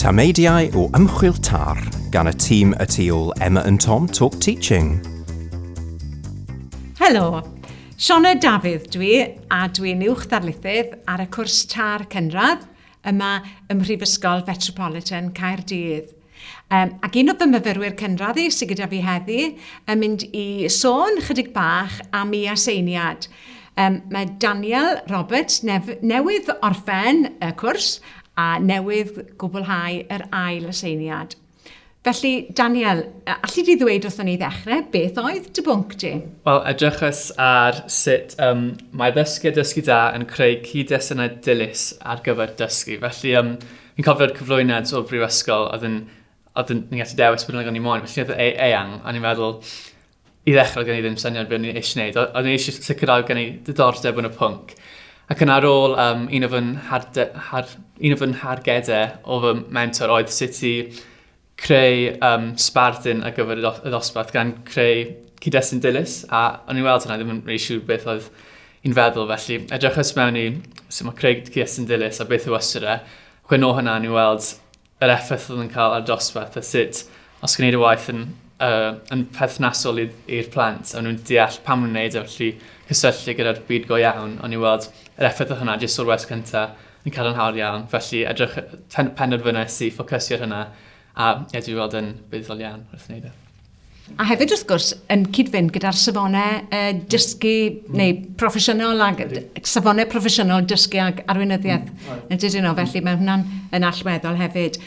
Tameidiau o ymchwil TAR gan y tîm y tu ôl Emma and Tom Talk Teaching. Helo, Siona Dafydd dwi a dwi'n uwch ddarlithydd ar y cwrs TAR cynradd yma ym Mhrifysgol Fetropolitan Caerdydd. Um, ac un o fy myfyrwyr cynradd sydd gyda fi heddi yn mynd i sôn chydig bach am ei aseiniad. Um, mae Daniel Roberts nef, newydd orffen y cwrs a newydd gwblhau yr ail aseiniad. Felly, Daniel, allu di ddweud wrth ni ddechrau beth oedd dy bwnc di? Wel, edrychus ar sut um, mae ddysgu a dysgu da yn creu cyd-destunau dilys ar gyfer dysgu. Felly, um, Fi'n cofio'r cyflwyniad o'r brifysgol, oedd yn, oedd yn, ni'n gallu dewis bod yn ni moyn, felly oedd e eang, a ni'n meddwl, i ddechrau gen i ddim syniad beth o'n i'n eisiau gwneud, o'n i'n eisiau sicrhau gen i ddiddordeb yn y pwnc. Ac yna ar ôl um, un o fy har, un o fy nhargedau o fy mentor oedd sut i creu um, sbardun ar gyfer y ddosbarth gan creu cyd-destun dilys a o'n i'n weld hwnna ddim yn rili siŵr beth oedd i'n feddwl felly edrychais mewn i sut mae creu cyd-destun dilys a beth yw ystyr e chwe nôl hwnna o'n i'n weld yr effaith oedd yn cael ar dosbarth a sut os gwneud y waith yn, uh, yn perthnasol i'r plant a nhw'n deall pam nhw'n wneud e felly cysylltu gyda'r byd go iawn o'n i'n weld yr effaith oedd hwnna jyst o'r wers cyntaf yn cadarnhaol iawn, felly edrych, penderfynais i ffocysio ar hynna, a ie, dwi weld yn buddiol iawn wrth wneud e. A hefyd, wrth gwrs, yn cyd-fynd gyda'r safonau uh, dysgu mm. neu proffesiynol, ag, safonau proffesiynol dysgu ag arweinyddiaeth mm. yn dydyn nhw, felly mae hwnna'n yn allweddol hefyd.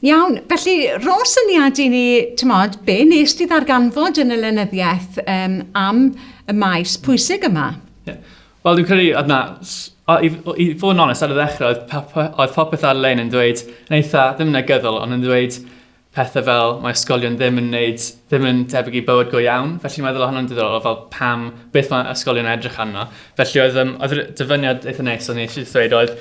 Iawn, felly rho syniad i ni, ti'n modd, be nes ti ddarganfod yn y lenyddiaeth um, am y maes pwysig yma? Yeah. Wel, dwi'n credu oedd na... i, i fod yn onest, ar y ddechrau, oedd, pop, oedd popeth ar-lein yn dweud, yn eitha, ddim yn negyddol, ond yn dweud pethau fel mae ysgolion ddim yn neud, ddim yn tebyg i bywyd go iawn. Felly mae'n meddwl hwnnw'n diddorol, fel pam, beth mae ysgolion edrych arno. Felly oedd, um, oedd dyfyniad eitha neis, ond eisiau dweud oedd,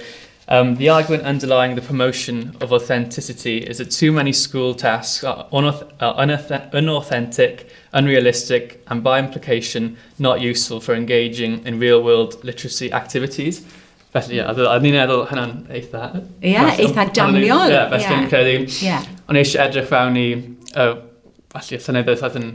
Um, the argument underlying the promotion of authenticity is that too many school tasks are, unauth are unauthentic, unrealistic, and by implication, not useful for engaging in real-world literacy activities. Felly, ie, yeah, a ni'n meddwl hynna'n eitha... Ie, yeah, eitha daniol. Ie, felly yeah. credu. Yeah. Ond eisiau edrych fewn i, uh, felly, y syniad oedd yn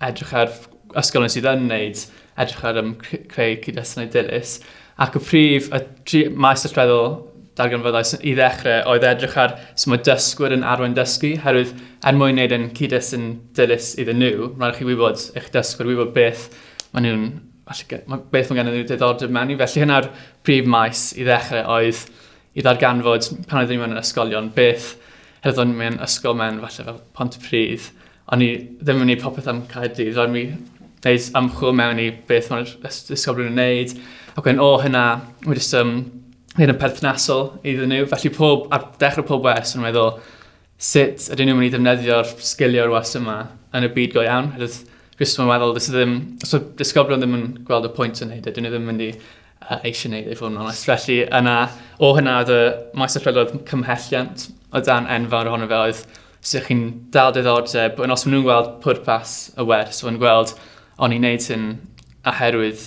edrych ar ysgolion sydd yn wneud, edrych ar um, creu cyd-destynau dilys. Ac y prif, y tri maes allweddol darganfyddais i ddechrau oedd edrych ar sy'n mae dysgwyr yn arwain dysgu, herwydd er mwyn wneud yn cyd-destun dilys iddyn nhw, rhaid chi wybod eich dysgwyr, wybod beth maen nhw'n beth mae gennym nhw diddordeb mewn i. Felly hynna'r prif maes i ddechrau oedd i ddarganfod pan oeddwn i mewn ysgolion beth heddyddwn mewn ysgol mewn falle fel pont y pridd O'n i ddim yn gwneud popeth am Caerdydd, roedd mi wneud ymchwil mewn i beth mae'r ysgol yn wneud, ac wedyn o hynna, mae jyst um, hyn yn perthnasol iddyn nhw. Felly pob, ar dechrau pob wers yn meddwl, sut ydyn nhw'n mynd i ddefnyddio'r sgilio'r wers yma yn y byd go iawn? Rwy'n jyst yn meddwl, dys ddim, os mae disgyblion ddim yn gweld y pwynt yn neud, ydyn nhw ddim yn mynd i a eisiau gwneud ei fod yn onest. Felly yna, o hynna oedd y maes y prydoedd cymhelliant o dan enfawr ohono fe oedd sut chi'n dal diddordeb, ond os maen nhw'n gweld pwrpas y wers, o'n gweld o'n i'n neud hyn oherwydd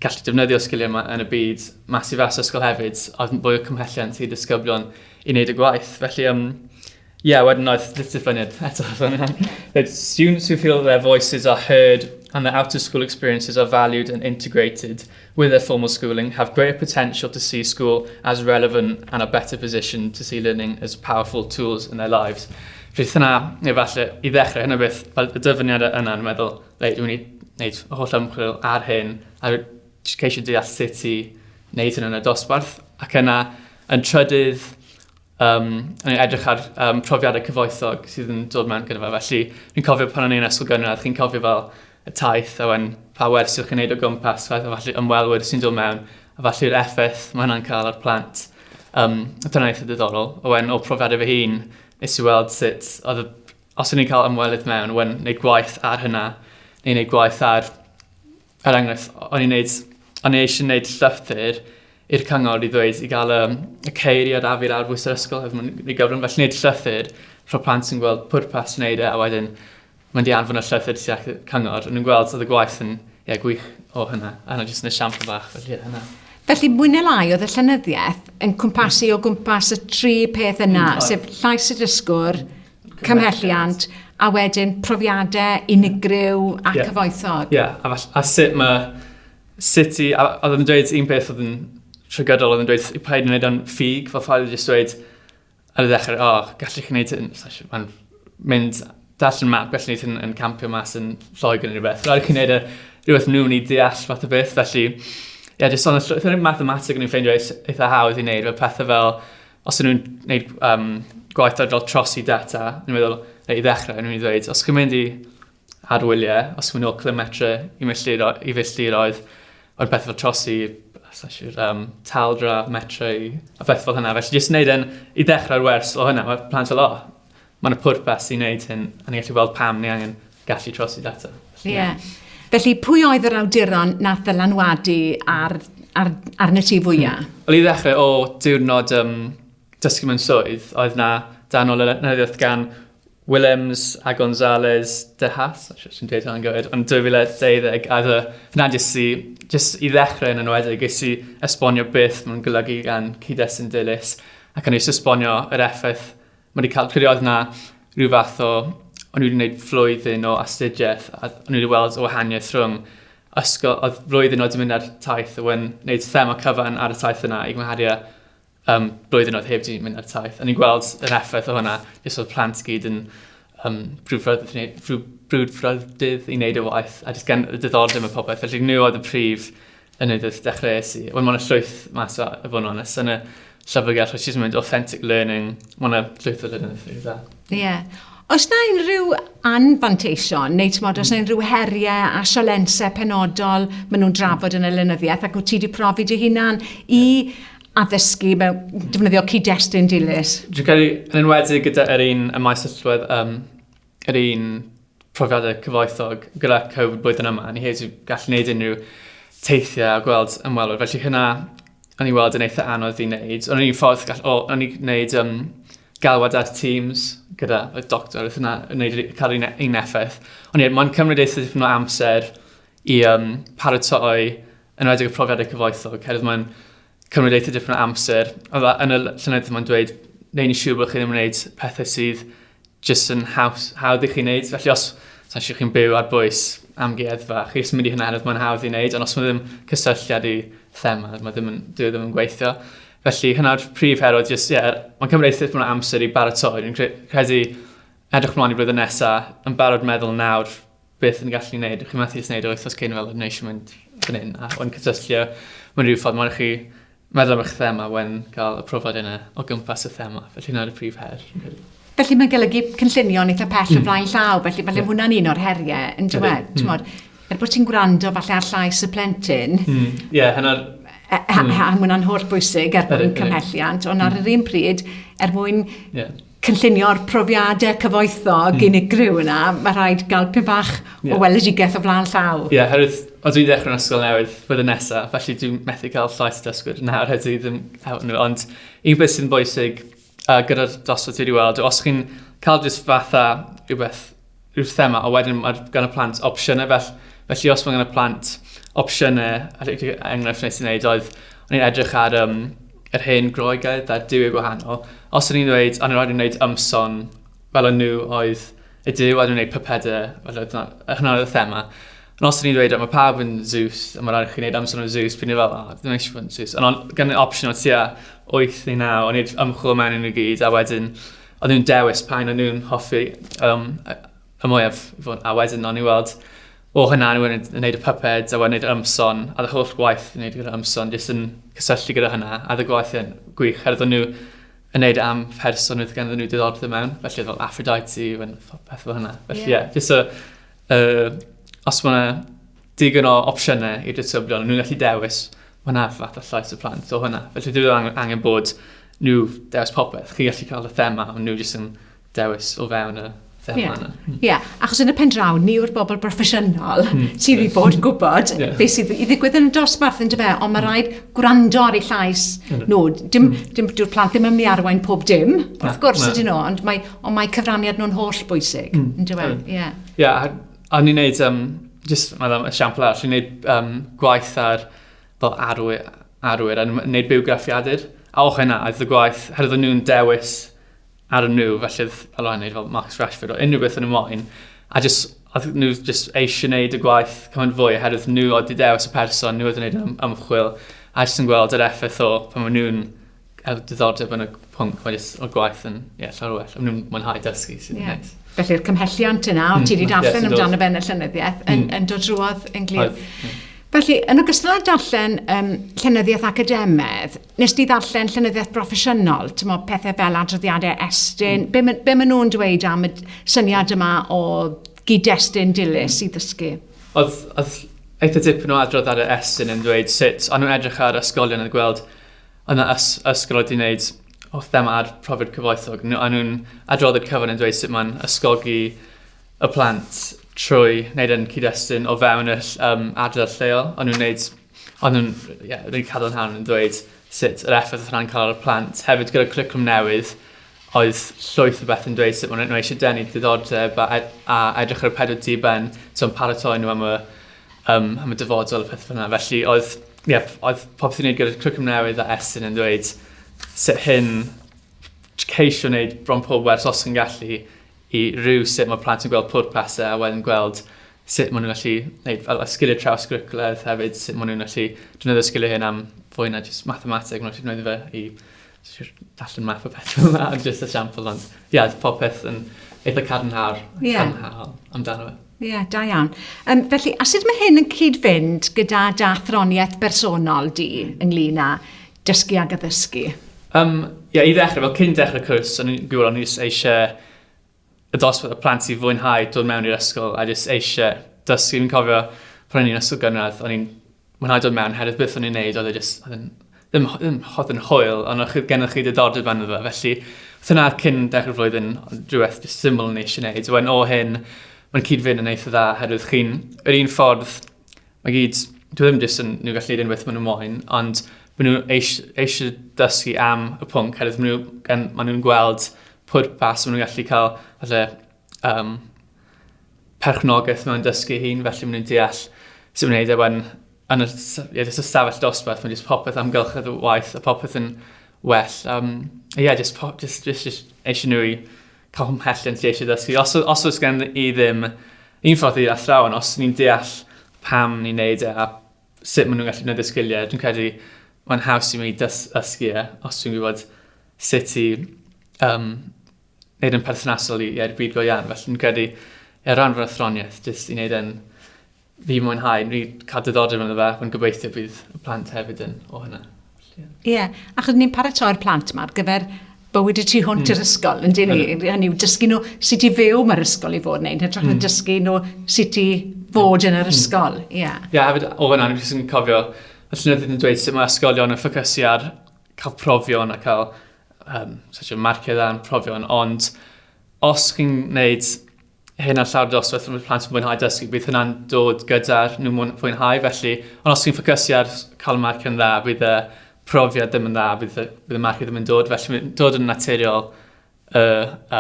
gallu defnyddio sgiliau yma yn y byd mas i fas ysgol hefyd, oedd yn fwy o cymhelliant i ddisgyblion i wneud y gwaith. Felly, um, Yeah, wedyn oedd diffyniad eto fan hyn. That students who feel their voices are heard and their out of school experiences are valued and integrated with their formal schooling have greater potential to see school as relevant and are better positioned to see learning as powerful tools in their lives. Fydd hynna, neu falle, i ddechrau hynna beth, fel y dyfyniad yna yn meddwl, reit, dwi'n mynd i wneud holl ymchwil ar hyn, a ceisio deall sut i wneud hynny'n y dosbarth, ac yna yn trydydd, um, yn edrych ar um, profiadau cyfoethog sydd yn dod mewn gyda fe. Felly, fi'n cofio pan o'n i'n ysgol gynradd, chi'n cofio fel y taith a wen pa wers yw'ch chi'n neud o gwmpas, fath o falle ymwelwyr sy'n dod mewn, a falle'r effaith mae hwnna'n cael ar plant. Um, dyna eitha diddorol. A wen o profiadau fy hun, nes i weld sut, oedd y, os o'n i'n cael ymwelydd mewn, wen neud gwaith ar hynna, neu neud gwaith ar Er enghraifft, o'n i'n neud, o'n i eisiau neud llythyr i'r cyngor i ddweud i gael um, y ceiriad a fi'r arbwys yr ysgol hefyd mae'n ei gyfrwng. Felly wneud llythyr rho plant sy'n gweld pwrpas wneud e a wedyn mae'n di anfon y llythyr ti ac cyngor. Ond yn gweld oedd y gwaith yn ie, gwych o hynna. A yna jyst yn y siampl bach felly hynna. Felly, mwy neu lai, oedd y llenyddiaeth yn cwmpasu o gwmpas y tri peth yna, mm, sef llais y dysgwr, cymhelliant, a wedyn profiadau unigryw ac yeah. cyfoethog. Ie, yeah. a, a sut mae... Sut i... A, oedd yn dweud un peth oedd yn trygydol, oedd yn dweud i paid yn gwneud o'n ffug, fel ffael jyst dweud ar y ddechrau, o, oh, gallu chi wneud hyn, mae'n mynd dall yn map, gallu wneud hyn yn campio mas yn lloig yn rhywbeth. Rhaid chi'n gwneud e rhywbeth nhw'n i deall fath o beth, felly, ie, yeah, jyst ond, oedd yn mathematig yn ei ffeindio eitha hawdd i wneud, fel pethau fel, os nhw'n gwneud um, gwaith ar gael trosi data, yn meddwl, i ddechrau, yn mynd i ddweud, os chi'n mynd i arwyliau, os chi'n mynd o'r kilometre i filltiroedd, o'r beth fel trosi, sesiwr, um, taldra, metre, a beth fel hynna. Felly, jyst wneud yn i ddechrau'r wers o hynna, mae plant fel, o, oh, mae'n y pwrpas i wneud hyn, a ni'n gallu gweld pam ni angen gallu trosi data. Ie. Yeah. Felly, pwy oedd yr awduron nath ddylanwadu ar, ar, arnat ti fwyaf? Hmm. Wel, i ddechrau o diwrnod um, dysgu mewn swydd, oedd na dan o lenyddiaeth gan Willems a Gonzalez de Haas, sy'n dweud hwnna'n gywir, yn 2012, a dda, na jyst i, jyst i ddechrau yn enwedig, jyst i esbonio beth mae'n golygu gan cyd-destun dilys, ac yn ei esbonio yr effaith Mae wedi cael period na rhyw fath o, o'n wedi gwneud flwyddyn o astudiaeth a o'n wedi weld y wahaniaeth rhwng ysgol, oedd flwyddyn oedd wedi mynd ar taith oedd yn gwneud thema cyfan ar y taith yna i gymharu â um, blwyddyn oedd heb wedi mynd ar taith. O'n i'n gweld yr effaith o hwnna, jyst oedd plant gyd yn um, brwdfrydydd i wneud y waith a jyst gan y diddordeb y popeth. Felly nhw oedd y prif yn y wrth dechreuais i. Wel, mae yna llwyth mas o, y fod yn onest, yn y llyfrgell, which is mynd authentic learning, mae yna llwyth o learning through that. Ie. Yeah. Os na unrhyw anfanteision, neu ti'n modd, os na hmm. unrhyw heriau a sialensau penodol maen nhw'n drafod yn y lenyddiaeth, ac wyt ti wedi profi dy hunan i addysgu mewn defnyddio cyd-destun dilys? Dwi'n credu yn enwedig gyda'r un y maes allwedd um, yr un profiadau cyfoethog gyda Covid blwyddyn yma. Ni hefyd wedi gallu gwneud unrhyw teithiau a gweld ymwelwyr. Felly hynna, o'n i'n weld yn eitha anodd i wneud. O'n i'n ffordd, gall, o, o'n i'n gwneud um, galwad ar Teams gyda y doctor, oedd hynna yn gwneud cael un, un effaith. Ond ie, mae'n cymryd eitha dipyn o amser i um, paratoi yn rhaid y profiadau cyfoethog, hefyd mae'n cymryd eitha dipyn o amser. Oedd yn y llynedd mae'n dweud, neud yn siŵr bod chi ddim yn gwneud pethau sydd jyst yn haws, hawdd i chi wneud. Felly os sa'n siŵr chi'n byw ar bwys am geddfa, chi jyst yn mynd i hynna hynod mae'n hawdd i wneud, ond os mae ddim cysylltiad i thema, mae ddim yn, dwi e ddim yn gweithio. Felly hynna'r prif herod, jyst, ie, yeah, mae'n cymryd eitha dipyn o amser i baratoi. Dwi'n credu edrych mlaen i flwyddyn nesaf, yn barod meddwl nawr beth yn gallu gwneud. Ydych chi'n methu jyst gwneud oes os cyn fel wneud eisiau mynd fan hyn a o'n cysylltio mewn rhyw ffordd mae'n chi meddwl am eich thema wen cael y profiad yna o gwmpas y thema. Felly yna'r y prif her. Felly mae'n golygu cynllunio'n eitha pell mm. o hmm. flaen llaw, felly falle yeah. hwnna'n un o'r heriau yn dweud. Mm. Mod, er bod ti'n gwrando falle ar llais y plentyn, mm. yeah, hynna'r a, a, a, a hwnna'n holl bwysig er mwyn cymhelliant, ond ar hmm. yr un pryd, er mwyn yeah cynllunio'r profiadau cyfoethog mm. unigryw yna, mae rhaid gael pyn bach yeah. o weledigaeth o flaen llaw. Ie, yeah, herwydd, o dwi'n dechrau yn ysgol newydd flwyddyn nesaf, felly dwi'n methu cael llais dysgwyr yna ar hyd ddim hefyd nhw. Ond un beth sy'n bwysig uh, gyda'r dosbarth wedi weld, os chi'n cael jyst fatha rhywbeth yw'r thema, a wedyn mae gan y plant opsiynau fel, felly os mae gan y plant opsiynau, er enghraifft wnes i wneud oedd, o'n i'n edrych ar um, yr hen groegaidd a'r diwyau gwahanol, os o'n i'n dweud, o'n i'n rhaid i'n gwneud ymson fel o'n nhw oedd y diw, a dwi'n gwneud pypedau, fel oedd hynna oedd y thema. Ond os o'n i'n dweud, mae pawb yn Zeus, a mae'n rhaid i chi wneud ymson yn Zeus, pyn i fel, oh, dwi'n eisiau fod yn Zeus. Ond gan y opsiwn o tua 8 neu 9, o'n i'n ymchwil mewn yn y gyd, a wedyn O'n nhw'n dewis pa un o'n nhw'n hoffi um, y mwyaf. A wedyn o'n i'n weld, o hynna, o'n i'n gwneud y puppets, a wedyn gwneud ymson, a dy holl gwaith yn gwneud gyda ymson, jyst yn cysylltu gyda hynna, a dy gwaith yn gwych, herwydd o'n nhw yn neud e am person oedd ganddyn nhw diddordeb mewn, felly oedd fel Aphrodite, fel peth fel hynna. Felly ie, yeah. yeah, jyst so, uh, os mae digon o opsiynau i'r disgyblion, nhw'n gallu dewis hwnna fath o llais y plant o hwnna. Felly dwi angen, angen bod nhw dewis popeth. Chi'n gallu cael y thema, ond nhw jyst yn dewis o fewn y thema yeah. yna. Ie, yeah. achos yn y pen draw, ni yw'r bobl broffesiynol mm. sydd wedi bod yn gwybod yeah. beth sydd i ddigwydd yn y dosbarth yn dyfa, ond mae hmm. rhaid gwrando ar ei llais mm. nhw. Dim, mm. dim, dyw'r plant ddim yn mynd i arwain pob dim, wrth gwrs ydyn nhw, ond mae, ond mae cyfraniad nhw'n holl bwysig, mm. yn dyfa. Ie. Yeah. Yeah, O'n i'n neud, um, just, mae'n um, esiampl arall, o'n i'n neud um, gwaith ar fel arwyr, arwyr a neud bywgraffiadur. A o'ch yna, oedd y gwaith, herwydd o'n nhw'n dewis ar y nhw, felly oedd Alon yn neud fel Marcus Rashford o unrhyw beth yn y moyn. A just, oedd nhw just eisiau neud y gwaith cymaint fwy, herwydd nhw oedd di dewis y person, nhw oedd yn neud ymchwil, a jyst yn gweld yr effaith o pan maen nhw'n hefo diddordeb yn y pwnc, mae jyst o'r gwaith yn yeah, llawer well. Mae nhw'n mwynhau dysgu sy'n yeah. neis. Felly'r cymhelliant yna, o ti wedi mm, darllen yes, amdano fe yn y llenyddiaeth, yn, mm. yn dod drwodd yn glir. Mm. Felly, yn ogystal â darllen um, llenyddiaeth academedd, nes di ddarllen llenyddiaeth broffesiynol, ti'n meddwl pethau fel adroddiadau estyn, mm. be, ma, be maen nhw'n dweud am y syniad yma o gyd-destun dilys i ddysgu? Oedd, oedd eitha dipyn o adrodd ar y Estyn yn dweud sut o'n nhw'n edrych ar ysgolion yn gweld Yn y ysgol oedd hi'n neud o thema ar profiad cyfoethog. Nhw- A nhw'n adrodd y cyfan yn dweud sut mae'n ysgogi y plant trwy wneud yn cyd-destun o fewn y ll- um, adrodd lleol. Ond nhw'n neud... Ond nhw'n yeah, rili cadarnhaol yn dweud sut yr effaith oedd hwnna'n cael ar y plant. Hefyd gyda'r cwricwlwm newydd, oedd llwyth o beth yn dweud sut maen nhw eisiau denu diddordeb a, ed- a edrych ar y pedwar diben, so yn paratoi nhw am y um, am y dyfodol a pethau fel yna. Felly oedd, ie, yeah, oedd popeth i'n gwneud gyda'r cwricwlwm newydd a Estyn yn dweud sut hyn ceisio wneud bron pob wers os yn gallu i rhyw sut mae plant yn gweld pwrpasau a wedyn gweld sut maen nhw'n gallu gwneud fel sgiliau traws gwricwlaidd hefyd, sut maen nhw'n gallu defnyddio sgiliau hyn am fwy na jyst mathemateg, maen nhw'n gallu gwneud fe i Sir allan math o beth fel yna, just a sample ond. Ie, yeah, popeth yn eitha cadarnhaol yeah. amdano fe. Ie, yeah, da iawn. Um, felly, a sut mae hyn yn cyd-fynd gyda da throniaeth bersonol di ynglyn â dysgu ag addysgu? Um, ie, yeah, i ddechrau, fel cyn dechrau cwrs, o'n i'n gwybod o'n i eisiau y dosbarth o plant sy'n fwynhau dod mewn i'r ysgol a jyst eisiau dysgu. Fi'n cofio pan o'n i'n ysgol gynradd, o'n i'n mwynhau dod mewn, hefyd beth o'n i'n neud, oedd e jyst, oedd yn, ddim, ddim hod yn hwyl, ond oedd gennych chi diddordeb yn fe. Felly, oedd hynna cyn dechrau'r flwyddyn, rhywbeth jyst syml yn eisiau neud. Wedyn o hyn, mae'n cyd-fynd yn eitha dda, herwydd chi'n, yr un ffordd, Mae gyd, dwi ddim jyst yn nhw gallu unwaith maen nhw moyn, ond maen nhw eisiau dysgu am y pwnc, hefyd maen nhw, maen nhw'n gweld pwrpas, maen nhw'n gallu cael falle, um, perchnogaeth mewn dysgu hun, felly maen nhw'n deall sy'n mynd i wneud e wan yn y, yeah, just y stafell dosbarth, mae jyst popeth am gylchedd y waith a popeth yn well. Um, yeah, just, pop, just, just, just eisiau nhw i Pa ymhell yn ti eisiau dysgu? Os, os oes gen i ddim un ffordd i athrawon, os ni'n deall pam ni'n neud e a sut maen nhw'n gallu gwneud y sgiliau, dwi'n credu mae'n haws i mi dysgu e, os dwi'n gwybod sut i um, wneud yn perthnasol i, i'r byd go iawn. Felly, dwi'n credu, er ran fy athroniaeth, jyst i wneud yn Fi'n mwynhau, fi cael diddordeb ynddo fe, fi'n gobeithio bydd y plant hefyd yn o hynna. Ie, yeah. achos ni'n paratoi'r plant yma ar gyfer bywyd y tu hwnt mm. i'r ysgol, yn dyn ni. Hynny yw, dysgu nhw sut i fyw mae'r ysgol i fod yn neud, hytrach mm. na dysgu nhw sut i fod yn yr hmm. ysgol. Ie, mm. yeah. yeah, hefyd o hynna, ni'n sy'n cofio, y llynydd yn dweud sut mae ysgolion yn ffocysu ar cael profion a cael um, such a marciau dda yn profion, ond os chi'n gwneud hyn ar llawr dosbarth rhwng plant yn mwynhau dysgu, bydd hynna'n dod gyda'r nhw mwyn fwynhau. Felly, ond os chi'n ffocysu ar cael marc yn dda, bydd y profiad ddim yn dda, bydd y, bydd y marc ddim yn dod. Felly, mae'n dod yn naturiol, y,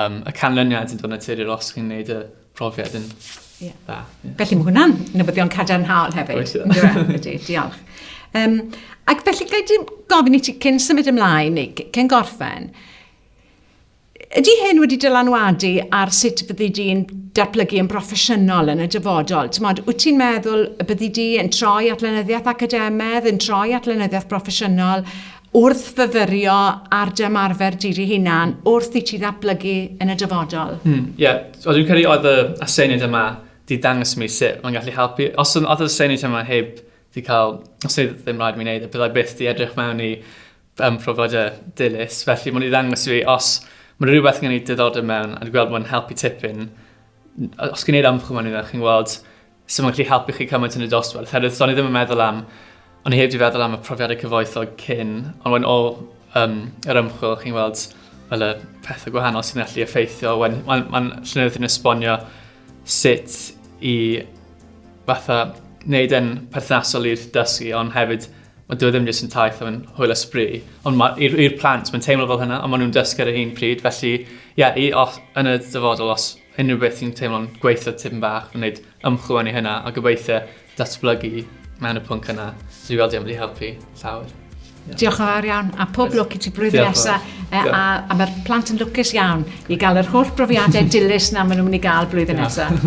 um, y canlyniad yn dod yn naturiol os chi'n gwneud y profiad yn yeah. dda. Yeah. Felly, mae hwnna'n newyddion cadarnhaol hefyd. Oes, yeah. Diolch. Um, ac felly, gael gofyn i ti cyn symud ymlaen, neu cyn gorffen, Ydy hyn wedi dylanwadu ar sut fyddi di'n datblygu yn broffesiynol yn y dyfodol? Timod, wyt ti'n meddwl y byddi di yn troi at lenyddiaeth academedd, yn troi at lenyddiaeth broffesiynol wrth fyfyrio ar dy ymarfer di dy hunan wrth i ti ddatblygu yn y dyfodol? Ie, hmm, yeah. o dwi'n credu oedd y aseiniad yma di dangos mi sut mae'n gallu helpu. Os oedd yr aseiniad yma heb di cael, os oedd ddim rhaid mi wneud, y byddai byth di edrych mewn i yn profiad e dilys, felly mae'n i ddangos i fi os mae'n rhywbeth gen i diddordeb mewn a dwi'n gweld mae'n helpu tipyn. Os gen i'r ymchwil mae'n i ddangos chi'n gweld sy'n mae'n gallu helpu chi cymaint yn y dosbarth. Herwydd, do'n i ddim yn meddwl am, ond i heb di feddwl am y profiadau cyfoethog cyn, ond wedyn o um, yr ymchwil chi'n gweld fel y pethau gwahanol sy'n gallu effeithio. Mae'n ma, ma llynedd yn esbonio sut i fatha wneud e'n perthnasol i'r dysgu, ond hefyd Mae dyw e ddim jyst yn taith mae'n hwyl a sbri. Ond ma- i'r i'r plant mae'n teimlo fel hynna a maen nhw'n dysgu ar yr un pryd felly ie i os yn y dyfodol os unrhyw beth sy'n teimlo'n gweithio tipyn bach mae'n gwneud ymchwil mewn i hynna a gobeithio datblygu mewn y pwnc yna. So dwi'n gweld yn mynd i helpu llawer. Diolch yn fawr iawn, a pob lwc i ti blwyddyn Diolch yn nesaf. fawr. E, Diolch. a, a mae'r plant yn lwcus iawn i gael yr holl brofiadau dilys na maen nhw'n mynd i gael blwyddyn nesaf.